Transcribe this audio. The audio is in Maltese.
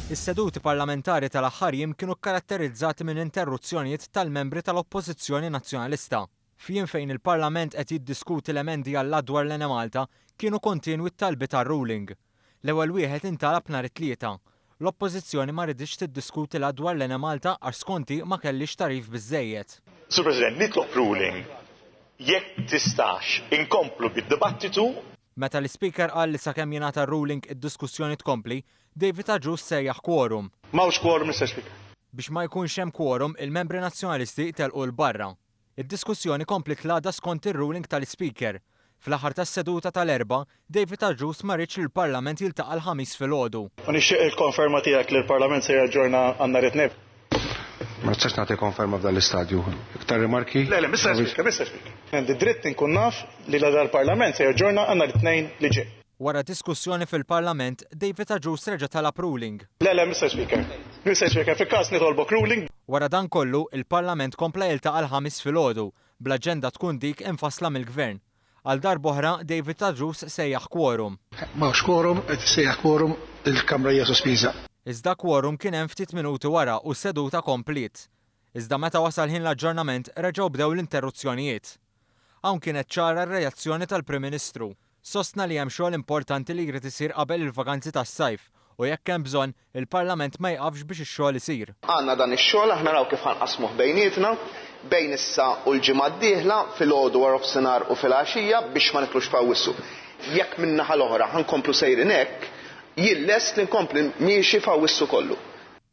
Is-seduti parlamentari tal-aħħar jiem kienu kkaratterizzati minn interruzzjonijiet tal-membri tal-Oppożizzjoni Nazzjonalista. F'jiem fejn il-Parlament qed jiddiskuti l-emendi għall-Att dwar l-Enemalta, kienu kontinwi t-talbiet għal ruling. L-ewwel wieħed intalab nhar it-Tlieta. L-Oppożizzjoni ma riditx tiddiskuti l-Att dwar l-Enemalta għax skont hi ma kellhiex tagħrif biżżejjed. Sur President, nitlob ruling jekk tistax inkomplu bid-dibattitu. Meta l-Ispeaker qal li sakemm jingħata r-ruling id-diskussjoni tkompli, David Agius sejjaħ quorum. M'hawnx quorum, Mister Speaker. Biex ma jkunx hemm quorum, il-Membri Nazzjonalisti telqu 'l barra. Id-diskussjoni kompliet l-għada skont ir-ruling tal-Ispeaker. Fl-aħħar tas-seduta tal-Erbgħa, David Agius ma riedx li l-Parlament jiltaqa' l-Ħamis filgħodu. U nixtieq il-konferma tiegħek li l-Parlament se jaġġorna għan-nhar it-Tnejn. Ma tistax nagħti konferma f'dan l-istadju. Iktar rimarki? Le, le, Mr. Speaker, Mr. Speaker. Għandi dritt inkun naf li la dal-Parlament se jaġġorna għandna l-tnejn li ġej. Wara diskussjoni fil-Parlament, David Agius reġa' talab ruling. Le, le, Mr. Speaker. Mr. Speaker, fil-każ nitolbok ruling. Wara dan kollu, il-Parlament kompla jiltaqa' l-Ħamis filgħodu, bl-aġenda tkun dik imfassla mill-Gvern. Għal darb'oħra, David Tadrous sejjaħ kworum. M'hawnx kworum, qed issejjaħ kworum, il-Kamra hija sospiża. Iżda kworum kien hemm ftit minuti wara u s-seduta kompliet. Iżda meta wasal ħin l-aġġornament reġgħu bdew l-interruzzjonijiet. Hawn kienet ċara r-reazzjoni tal-Prim Ministru. Sostna li hemm xogħol importanti li jrid isir qabel il-vakanzi tas-sajf u jekk hemm bżonn, Il-Parlament ma jqafx biex ix-xogħol isir. Għandna dan ix-xogħol, aħna naraw kif ħanqassmuh bejnietna, bejn issa u l-ġimgħa d-dieħla, filgħodu, waroffsinhar u filgħaxija, biex ma nitlux f'Awwissu. Jekk min-naħa l-oħra ħankomplu sejrin hekk, jien lest li nkompli miexi f'Awwissu kollu.